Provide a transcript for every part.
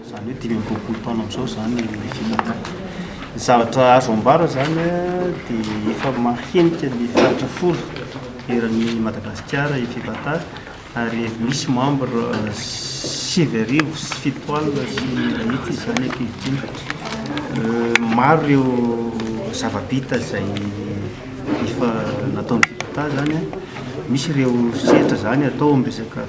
Izany hoe dimy amby roapolo taona amin'izao izany ny fitantanana. Ny zavatra azo ambara izany dia efa mahenika ny faritra folo eran'ny Madagasikara i Fipata ary misy membre sivy arivo sy fito alina sy mahitsy izany ankehitriny. Euh, maro ireo zava-bita izay efa nataon'ny Fipata izany, misy ireo sehatra izany atao amin'ny resaka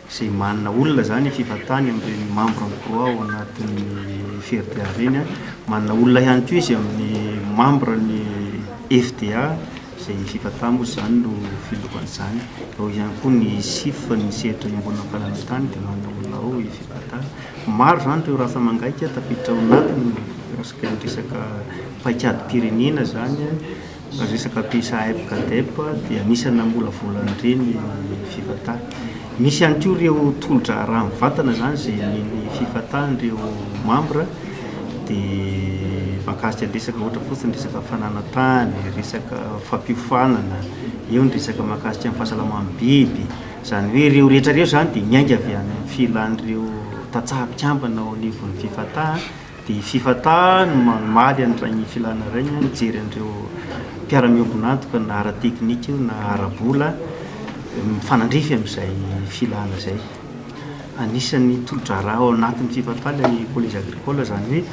izay manana olona izany fivantany amin'ireny membre ny croix ao anatin'ny FRDA ireny, manana olona ihany koa izy amin'ny membre ny FDA izay fivantany moa izany no filoha an'izany, eo ihany koa ny CIF ny sehatra iombonana fananantany dia manana olona ao fivantany, maro izany ireo raha famangaika tafiditra ao anatiny resaka paikadim-pirenena izany. Ny resaka PSAEP Cadep dia anisan'ny namolavola an'ireny ny Fifata. Misy ihany koa ireo tolo-draharaha mivantana izany izay nen'ny Fifata an'ireo mambra dia mahakasika ny resaka ohatra fotsiny ny resaka fananantany, resaka fampiofanana, eo ny resaka mahakasika ny fahasalaman'ny biby. Izany hoe ireo rehetra ireo izany dia miainga avy any amin'ny filan'ireo tantsaha mpikambana ao anivon'ny Fifata Dia f'efa ta ny mamaly an'iray ny filana iray ny mijery an'ireo mpiara-miombon'antoka na ara-teknika io na ara-bola mifanandrify amin'izay filana izay. Anisan'ny tolo-draharaha ao anatin'ny f'efa-ta ilay collège agricole, izany hoe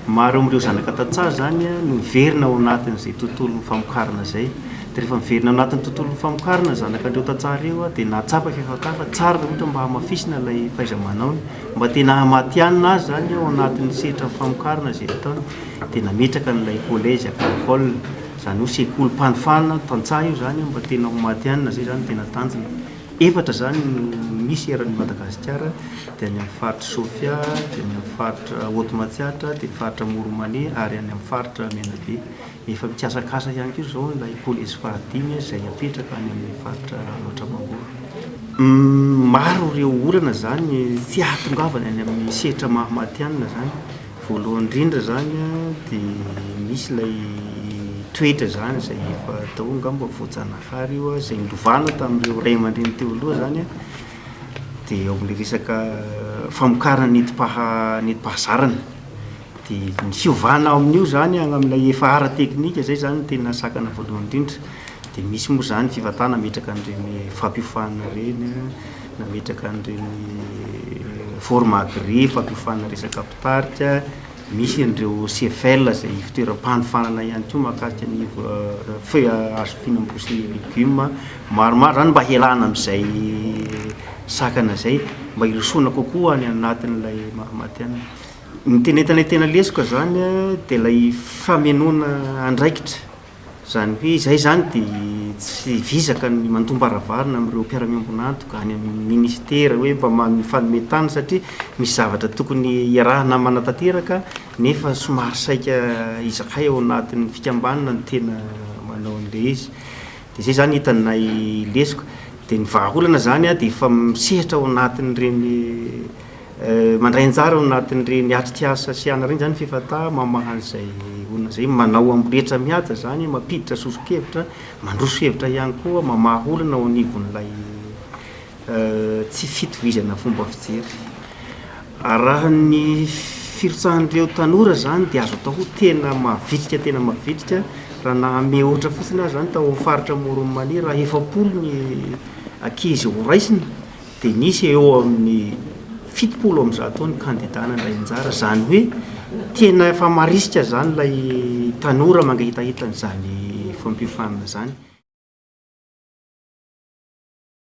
maro amin'ireo zanaka tantsaha izany no miverina ao anatin'izay tontolon'ny famokarana izay. Dia rehefa miverina ao anatin'ny tontolon'ny famokarana ny zanakan'ireo tantsaha ireo dia nahatsapa f'efa-ta fa tsara raha ohatra mba hamafisina ilay fahaiza-manaony. Mba te nahamatihanina azy izany ao anatin'ny sehatran'ny famokarana izay vitaony dia nametraka an'ilay collège agricole, izany hoe sekolim-panofanana tantsaha io izany mba tena ho matihanina izay izany no tena tanjona. Efatra izany no misy eran'i Madagasikara dia any amin'ny faritr'i Sofia, dia any amin'ny faritra Haute Matsiatra, dia ny faritra Moromanea ary any amin'ny faritra Menabe. Efa mikasakasa ihany koa izao ilay pôle espoir dimy izay hapetraka any amin'ny faritra Alaotra Mangoro. Maro ireo olana izany tsy ahatongavana any amin'ny sehatra maha matihanina izany. Voalohany indrindra izany dia misy ilay toetra izany izay efa atao angamba voajanahary io izay nilovana tamin'ireo ray aman-dreny teo aloha izany an, dia ao amin'ilay resaka famokarana nentim-pahazarana. Dia ny fiovana ao amin'io izany any amin'ilay efa ara-teknika izay izany no tena sakana voalohany indrindra. Dia misy moa izany fifantaha nametraka an'ireny fampiofana ireny, nametraka an'ireny forme agré fampiofana resaka mpitarika, misy an'ireo CFL izay fitoeram-panofanana ihany koa mahakasika ny feuille à hazo fino ambroa sy ny légumes. Maromaro izany mba hialana amin'izay sakana izay, mba hirosoana kokoa any anatin'ilay maha-matihanina. Ny tena entanay tena lesoka izany an, dia ilay famenoana andraikitra. Izany hoe izahay izany dia tsy vizaka ny mandombaravarina amin'ireo mpiara-miombon'antoka any amin'ny minisitera hoe mba mifanome tany satria misy zavatra tokony hiarahana manatanteraka nefa somary saika izahay ao anatin'ny fikambanana no tena manao an'ilay izy. Dia izay izany hitanay lesoka. Dia ny vahaolana izany an, dia efa misehatra ao anatin'ireny Mandray anjara ao anatin'ireny atrikasa sy anareny izany ny Fifata mamaha an'izay olona izay manao amboletra mihaja izany, mampiditra soso-kevitra, mandroso hevitra ihany koa, mamaha olona ao anivon'ilay tsy fitovizana fomba fijery. Arahan'ny firotsahan'ireo tanora izany dia azo atao ho tena mavitrika tena mavitrika raha nahamehy ohatra fotsiny aza izany tao amin'ny faritra Amoron'i Mania raha efapolo ny ankizy horaisina dia nisy eo amin'ny fitopolo amby zato eo ny kandida nandray anjara, izany hoe tena efa marisika izany ilay tanora mangahitahita an'izany fampiofanana izany.